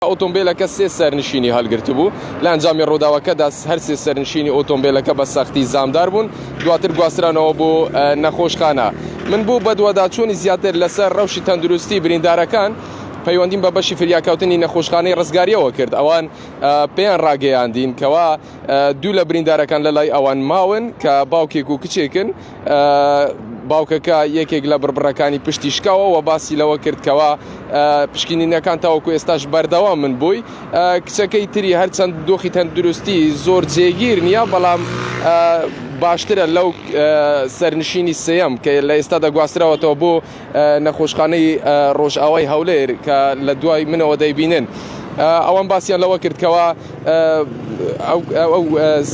ئۆتۆمبێلەکە سێ سەرنشینی هەڵگرتبوو، لە ئەنجامی ڕووداوەکەدا هەر سێ سەرنشینی ئۆتۆمبێلەکە بە سەختی زامدار بوون، دواتر گواسترانەوە بۆ نەخۆشخانە. من بۆ بەدواداچوونی زیاتر لەسەر ڕەوشی تەندروستی بریندارەکان پەیوەندیم بە بەشی فریاکەوتنی نەخۆشخانەی ڕزگارییەوە کرد، ئەوان پێیان ڕاگەیاندین کەوا دوو لە بریندارەکان لەلای ئەوان ماون کە باوکێک و کچێکن، باوکەکە یەکێک لە بڕبڕەکانی پشتی شکاوە و باسی لەوە کردکەوە پشکینینەکان تاوەکو ئێستاش بەردەوا من بووی کچەکەی تری هەرچەند دۆخی تەندروستی زۆر جێگیر نییە بەڵام باشترە لەو سەرنشینی سم کە لە ئێستا دەگواستراوەتەوە بۆ نەخۆشخانەی ڕۆژئاوای هەولێر کە لە دوای منەوە دەیبینن ئەوان باسییان لەوە کرد کەەوە ئەو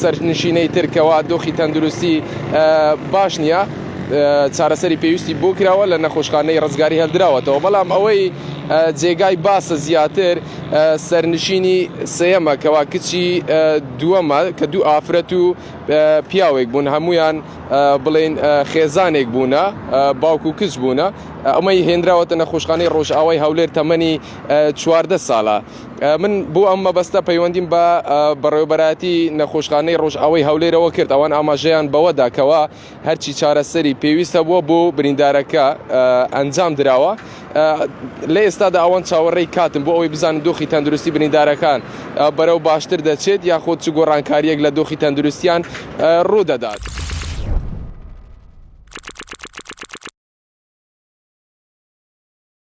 سەرنشینەی ترکەوە دۆخی تەندروستی باش نییە چارەسەری پێویستی بۆ کراوە لە نەخۆشخانەی ڕزگاری هەلدراوەتەوە بەڵام ئەوەی جێگای باسە زیاتر سەرنشینی سەیەمە کەوا کچی دووەمە کە دوو ئافرەت و پیاوێک بوون هەمویان بڵین خێزانێک بوونە باوکو کچ بوونە ئەمەی هێنراوەتە نەخۆشخانەی ڕۆژئاوای هەولێر تەمەنی چواردە ساڵە من بۆ ئەم مەبەستە پەیوەندیم بە بەڕێوبەراتی نەخۆشخانەی ڕۆژئاوای هەولێرەوە کرد ئەوان ئاماژەیان بەوەداکەوە هەرچی چارەسەری پێویست هەبووە بۆ بریندارەکە ئەنجام دراوە لە ئێستادا ئەوان چاوەڕێی کاتم بۆ ئەوەی بزانن دۆخی تەندروستی بریندارەکان بەرەو باشتر دەچێت یاخۆت چ گۆڕانکاریەک لە دۆخی تەندروستیان ڕوودەدات.